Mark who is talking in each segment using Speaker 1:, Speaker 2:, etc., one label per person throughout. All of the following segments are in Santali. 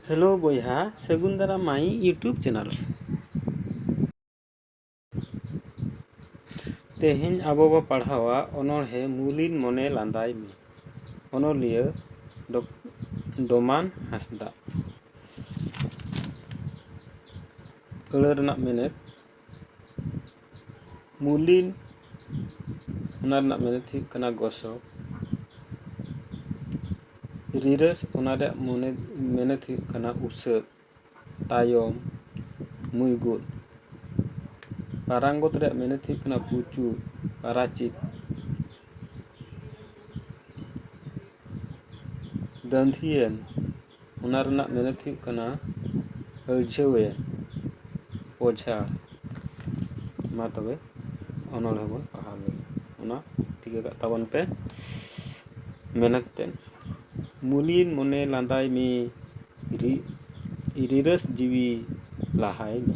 Speaker 1: ᱦᱮᱞᱳ ᱵᱚᱭᱦᱟ ᱥᱟᱹᱜᱩᱱ ᱫᱟᱨᱟᱢ ᱢᱟᱭ ᱤᱭᱩᱴᱩᱵᱽ ᱪᱮᱱᱮᱞ ᱛᱮᱦᱮᱧ ᱟᱵᱚ ᱵᱚ ᱯᱟᱲᱦᱟᱣᱟ ᱚᱱᱚᱬᱦᱮ ᱢᱩᱞᱤᱱ ᱢᱚᱱᱮ ᱞᱟᱸᱫᱟᱭ ᱢᱮ ᱚᱱᱚᱞᱤᱭᱟᱹ ᱰᱚᱢᱟᱱ ᱦᱟᱸᱥᱫᱟ ᱟᱹᱲᱟᱹ ᱨᱮᱱᱟᱜ ᱢᱮᱱᱮᱛ ᱢᱩᱞᱤᱱ ᱚᱱᱟ ᱨᱮᱱᱟᱜ ᱢᱮᱱᱮᱛ ᱦᱩᱭᱩᱜ ᱠᱟᱱᱟ ᱜᱚᱥᱚ ᱨᱤᱨᱟᱹᱥ ᱚᱱᱟ ᱨᱮᱭᱟᱜ ᱢᱚᱱᱮ ᱢᱮᱱᱮᱛ ᱦᱩᱭᱩᱜ ᱠᱟᱱᱟ ᱩᱥᱟᱹᱫ ᱛᱟᱭᱚᱢ ᱢᱩᱭᱜᱩᱫ ᱯᱟᱨᱟᱝᱜᱚᱛ ᱨᱮᱭᱟᱜ ᱢᱮᱱᱮᱛ ᱦᱩᱭᱩᱜ ᱠᱟᱱᱟ ᱯᱩᱪᱩᱡ ᱯᱟᱨᱟᱪᱤᱛ ᱫᱟᱺᱫᱷᱤᱭᱟᱹᱱ ᱚᱱᱟ ᱨᱮᱱᱟᱜ ᱢᱮᱱᱮᱛ ᱦᱩᱭᱩᱜ ᱠᱟᱱᱟ ᱟᱹᱲᱡᱷᱟᱹᱣᱮ ᱚᱡᱷᱟ ᱢᱟ ᱛᱚᱵᱮ ᱚᱱᱚᱬᱦᱮ ᱵᱚᱱ ᱯᱟᱲᱦᱟᱣ ᱞᱮᱜᱮ ᱚᱱᱟ ᱴᱷᱤᱠᱟᱹ ᱠᱟᱜ ᱛᱟᱵᱚᱱ ᱯᱮ ᱢᱮᱱᱟ ᱠᱟᱛᱮᱫ ᱢᱩᱞᱤᱱ ᱢᱚᱱᱮ ᱞᱟᱸᱫᱟᱭ ᱢᱮ ᱨᱤ ᱨᱤᱨᱟᱹᱥ ᱡᱤᱣᱤ ᱞᱟᱦᱟᱭ ᱢᱮ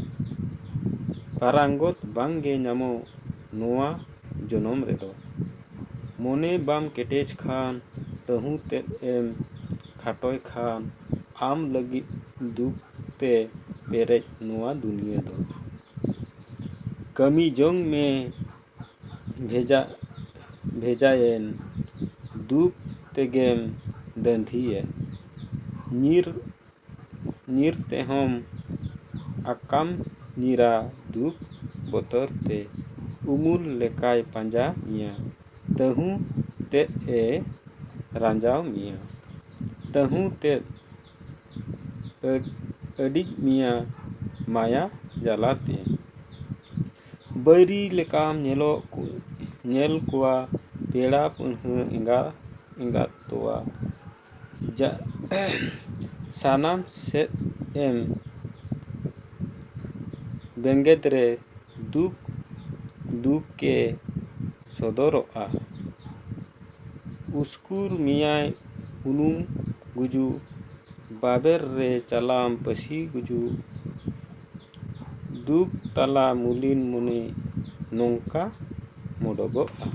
Speaker 1: ᱯᱟᱨᱟᱝᱜᱚᱛ ᱵᱟᱝᱜᱮ ᱧᱟᱢᱚᱜ ᱱᱚᱣᱟ ᱡᱚᱱᱚᱢ ᱨᱮᱫᱚ᱾ ᱢᱚᱱᱮ ᱵᱟᱢ ᱠᱮᱴᱮᱡᱽ ᱠᱷᱟᱱ ᱛᱟᱹᱦᱩ ᱛᱮᱫ ᱮᱢ ᱠᱷᱟᱴᱚᱭ ᱠᱷᱟᱱ ᱟᱢ ᱞᱟᱹᱜᱤᱫ ᱫᱩᱠ ᱛᱮ ᱯᱮᱨᱮᱡ ᱱᱚᱣᱟ ᱫᱩᱱᱤᱭᱟᱹ ᱫᱚ᱾ ᱠᱟᱹᱢᱤ ᱡᱚᱝ ᱢᱮ ᱵᱷᱮᱡᱟ ᱵᱷᱮᱡᱟᱭᱮᱱ ᱫᱩᱠ ᱛᱮᱜᱮᱢ ᱫᱟᱺᱫᱷᱤ ᱮᱱ᱾ ᱧᱤᱨ ᱧᱤᱨ ᱛᱮᱦᱚᱢ ᱟᱠᱟᱢ ᱧᱤᱨᱟ ᱫᱩᱠ ᱵᱚᱛᱚᱨ ᱛᱮ ᱩᱢᱩᱞ ᱞᱮᱠᱟᱭ ᱯᱟᱸᱡᱟ ᱢᱮᱭᱟ ᱛᱟᱹᱦᱩ ᱛᱮᱫ ᱮ ᱨᱟᱸᱡᱟᱣ ᱢᱮᱭᱟ ᱛᱟᱹᱦᱩ ᱛᱮᱫ ᱟᱹᱰᱤᱡ ᱢᱮᱭᱟ ᱢᱟᱭᱟ ᱡᱟᱞᱟ ᱛᱮ ᱵᱟᱹᱭᱨᱤ ᱞᱮᱠᱟᱢ ᱧᱮᱞᱚᱜ ᱧᱮᱞ ᱠᱚᱣᱟ ᱯᱮᱲᱟ ᱯᱟᱹᱲᱦᱟᱹ ᱮᱸᱜᱟ ᱮᱸᱜᱟᱛ ᱛᱚᱣᱟ ᱥᱟᱱᱟᱢ ᱥᱮᱫ ᱮᱢ ᱵᱮᱸᱜᱮᱫ ᱨᱮ ᱫᱩᱠ ᱫᱩᱠ ᱮ ᱥᱚᱫᱚᱨᱚᱜᱼᱟ ᱩᱥᱠᱩᱨ ᱢᱮᱭᱟᱭ ᱩᱱᱩᱢ ᱜᱩᱡᱩᱜ ᱵᱟᱵᱮᱨ ᱨᱮ ᱪᱟᱞᱟᱢ ᱯᱟᱹᱥᱤ ᱜᱩᱡᱩᱜ ᱫᱩᱠ ᱛᱟᱞᱟ ᱢᱩᱞᱤᱱ ᱢᱩᱱᱤ ᱱᱚᱝᱠᱟ ᱢᱚᱰᱚᱜᱚᱜᱼᱟ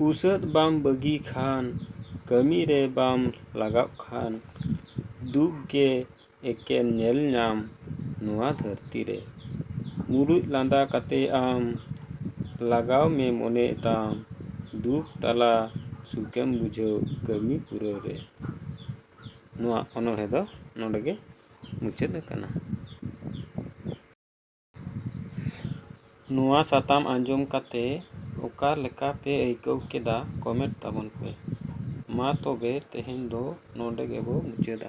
Speaker 1: ᱩᱥᱟᱹᱫ ᱵᱟᱢ ᱵᱟᱹᱜᱤ ᱠᱷᱟᱱ ᱠᱟᱹᱢᱤ ᱨᱮ ᱵᱟᱢ ᱞᱟᱜᱟᱜ ᱠᱷᱟᱱ ᱫᱩᱠ ᱜᱮ ᱮᱠᱮᱱ ᱧᱮᱞ ᱧᱟᱢ ᱱᱚᱣᱟ ᱫᱷᱟᱹᱨᱛᱤ ᱨᱮ ᱢᱩᱲᱩᱡ ᱞᱟᱸᱫᱟ ᱠᱟᱛᱮ ᱟᱢ ᱞᱟᱜᱟᱣ ᱢᱮ ᱢᱚᱱᱮ ᱛᱟᱢ ᱫᱩᱠ ᱛᱟᱞᱟ ᱥᱩᱠᱮᱢ ᱵᱩᱡᱷᱟᱹᱣ ᱠᱟᱹᱢᱤ ᱯᱩᱨᱟᱹᱣ ᱨᱮ ᱱᱚᱣᱟ ᱚᱱᱚᱬᱦᱮ ᱫᱚ ᱱᱚᱰᱮ ᱜᱮ ᱢᱩᱪᱟᱹᱫ ᱟᱠᱟᱱᱟ᱾ ᱱᱚᱣᱟ ᱥᱟᱛᱟᱢ ᱟᱸᱡᱚᱢ ᱠᱟᱛᱮ ᱚᱠᱟ ᱞᱮᱠᱟ ᱯᱮ ᱟᱹᱭᱠᱟᱹᱣ ᱠᱮᱫᱟ ᱠᱚᱢᱮᱱᱴ ᱛᱟᱵᱚᱱ ᱯᱮ᱾ ᱢᱟ ᱛᱚᱵᱮ ᱛᱮᱦᱮᱧ ᱫᱚ ᱱᱚᱰᱮ ᱜᱮᱵᱚ ᱢᱩᱪᱟᱹᱫᱟ᱾